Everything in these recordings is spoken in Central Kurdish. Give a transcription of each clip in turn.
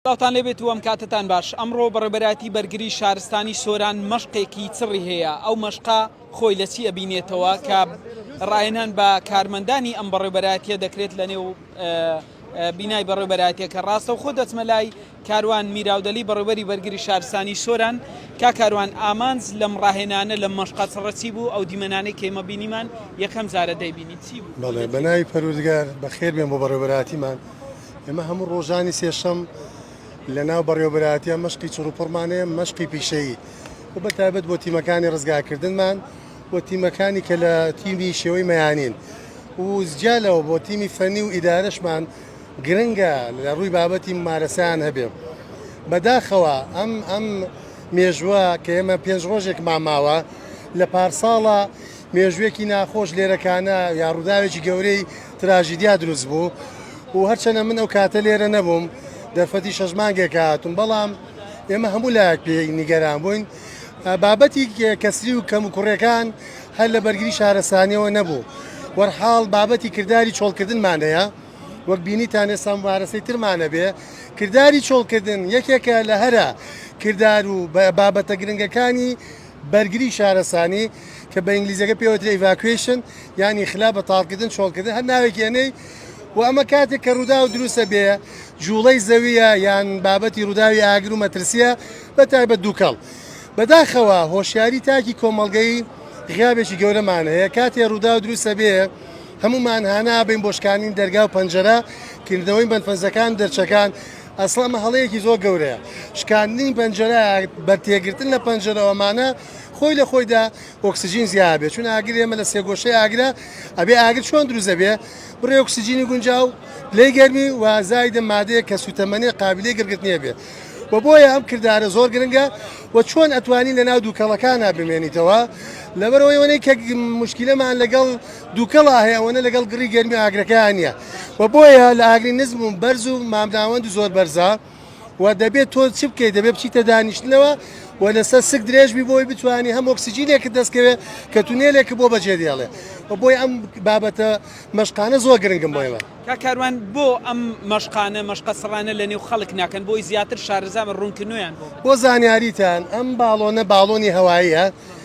سڵاوتان لێبێت و ئەمکاتەتان باش. ئەمڕۆ بەڕێوبەرایەتی بەرگری شارستانی سۆران مەشقێکی چڕی هەیە، ئەو مەشقە خۆی لە چی ئەبینێتەوە کە ڕاهێنان بە کارمەندانی ئەم بەڕێوبەرایەتیە دەکرێت لە نێو بینای بەڕێوبەرایەتیەکە ڕاستەوخۆ دەچمە لای کاروان میراودەلی بەڕێوبەری بەرگری شارستانی سۆران کا کاروان ئامانج لەم ڕاهێنانە لە مەشقە چڕە چی بوو ئەو دیمەنانەی کەیمە بینیمان یەکەم جارە دەیبینی چی بوو بەڵێ بەناوی پەروردگار بەخێر بێن بۆ بەڕێوبەرایەتیمان ئێمە هەموو ڕۆژانی سێشەم لە ناو بەڕێوەبەرایەتیە مەشقی چڕوپڕمان هەیە مەشقی پیشەیی و بە تایبەت بۆ تیمەکانی ڕزگاکردنمان و تیمەکانی کە لە تیمی شێوەی مەیانین و زجالەوە بۆ تیمی فەنی و ئیدارشمان گرنگە لە ڕووی بابەتی مارەسەیان هەبێ بەداخەوە ئەم ئەم مێژوە کە ئێمە پێنج ڕۆژێک ماماوە لە پارساڵە مێژوێکی ناخۆش لێرەکانە یا ڕووداوێکی گەورەی تراژیدیا دروست بوو و هەرچەنە من ئەو کاتە لێرە نەبووم دەرفەتی شەش مانگێکە هاتووم بەڵام ئێمە هەموو لایەک پێ نیگەران بووین بابەتی کەسری و کەم و کوڕەکان هەر لە بەرگری شارستانیەوە نەبوو وەرحاڵ بابەتی کردداری چۆڵکردنمان هەیە وەک بینیتان ئێستا مبارەسەی ترمانە بێ کردداری چۆڵکردن یەکێکە لە هەرە کردار و بابەتە گرنگەکانی بەرگری شارەسانی کە بە ئینگلیزەکە پێ وترێ Evacuation یان ئیخلا بە تاڵکردن چۆڵکردن هەر ناوێکی ئەنێی و ئەمە کاتێک کە ڕووداو دروستە بێ جوڵەی زەویە یان بابەتی ڕووداوی ئاگر و مەترسیە بە تایبەت دووکەڵ بەداخەوە هۆشیاری تاکی کۆمەڵگەی غیابێکی گەورەمان هەیە کاتێ ڕووداو دروستە بێ هەمومان هانا بین بۆ شکاندنی دەرگا و پەنجەرە کردنەوەی بەندپەنجەکان دەرچەکان ئەسڵەن ئەمە هەڵەیەکی زۆر گەورەیە، شکاندنی پەنجەرە بە تێگرتن لە پەنجەرەوە مانا خۆی لە خۆیدا ئۆکسجین زیا ئەبێ چون ئاگر ئێمە لە سێگۆشەی ئاگرە ئەبێ ئاگر چۆن دروست ئەبێ بڕێ ئۆکسجینی گونجاو پلەی گەرمی و زایدە مادەیە کە سوتەمەنێ قابلی گرگرتنی ئەبێ و بۆیە ئەم کردارە زۆر گرنگە و چۆن ئەتوانی لە ناو دووکەڵەکانە بمێنیتەوە لەبەرەوەی وەنەی کە مشکلەمان لەگەڵ دووکەڵا هەیە ئەوەنە لەگەڵ گڕی گەرمی ئاگرەکەیا نیە و بۆیە لە ئاگری نزم و بەرز و مامناوەند و زۆر بەرزە و دەبێت تۆ چ بکەیت دەبێت بچیتە دانیشتنەوە و لەسەر سک درێژ بی بۆی بتوانی هەم ئۆکسجینێکت دەستکەوێ کە تونێلێک بۆ بەجێ دێڵێ و بۆی ئەم بابەتە مەشقانە زۆر گرنگم بۆی وە. کاک کاروان بۆ ئەم مەشقانە مەشقە سڕانە لە نێو خەڵک ناکەن بۆی زیاتر شارەزا بن ڕونکنویان بۆ بکەن. بۆ زانیاریتان ئەم باڵۆنە باڵۆنی هەواییە،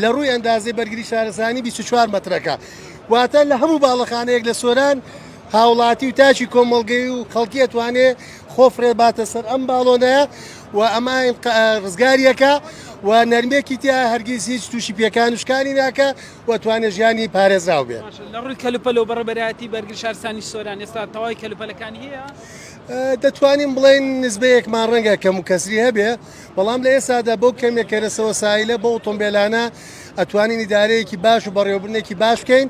لە ڕووی ئەندازەی بەرگری شارستانی بیست و چوار مەترەکە، واتە لە هەموو باڵەخانەیەک لە سۆران هاوڵاتی و تاکی کۆمەڵگەی و خەڵکی ئەتوانێ خۆ فڕێ باتە سەر ئەم باڵۆنەیە و ئەمە ڕزگاری ئەکا و نەرمێکی تیایە هەرگیز هیچ تووشی پێکان و شکانی ناکا و ئەتوانێ ژیانی پارێزراو بێ. باشە لە ڕووی کەلوپەل و بەڕێوبەرایەتی بەرگری شارستانی سۆران ئێستا تەواوی کەلوپەلەکانی هەیە؟ دەتوانین بڵێین نسبەیەکمان ڕەنگە کەموکەسری هەبێ، بەڵام لە ئێستادا بەو کەمێک کەرەسەوە سایلە بەو ئۆتۆمبێلانە ئەتوانین ئیدارەیەکی باش و بەڕێوەبردنێکی باش بکەین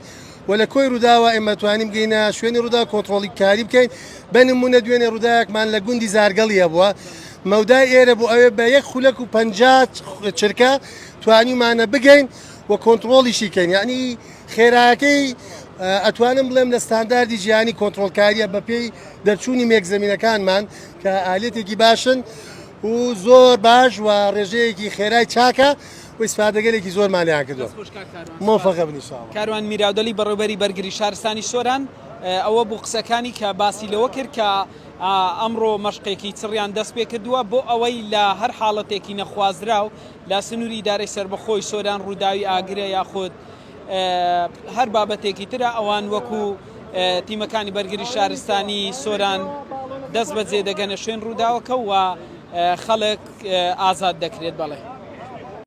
و لە کۆی ڕووداوە ئێمە توانیم بگەینە شوێنی ڕوودا کۆنترۆڵی کاری بکەین بە نمونە دوێنێ ڕووداوێکمان لە گوندی زارگەڵی هەبووە مەودای ئێرە بۆ ئەوێ بە یەک خولەک و پەنجات چرکە توانیمانە بگەین و کۆنترۆڵیشی کەین یعنی خێراکەی ئەتوانم بڵێم لە ستانداردی جیهانی کۆنترۆلکاریە بەپێی دەرچوونی مێک زمینەکانمان کە ئالێتێکی باشن و زۆر باش و ڕێژەیەکی خێرای چاکە و ئیسفادەگەلێکی زۆر مانیان کردو مۆفەقە بنیشاوە کاروان میراودەلی بەڕێوبەری بەرگری شارستانی سۆران ئەوە بوو قسەکانی کە باسی لەوە کرد کە ئەمڕۆ مەشقێکی چڕیان دەست پێ کردووە بۆ ئەوەی لە هەر حاڵەتێکی نەخوازراو لە سنووری ئیدارەی سەربەخۆی سۆران ڕووداوی ئاگرە یاخود هەر بابەتێکی ترە ئەوان وەکو تیمەکانی بەرگری شارستانی سۆران دەست بەجێ دەگەنە شوێن ڕووداوەکە و خەڵک ئازاد دەکرێت بەڵێ.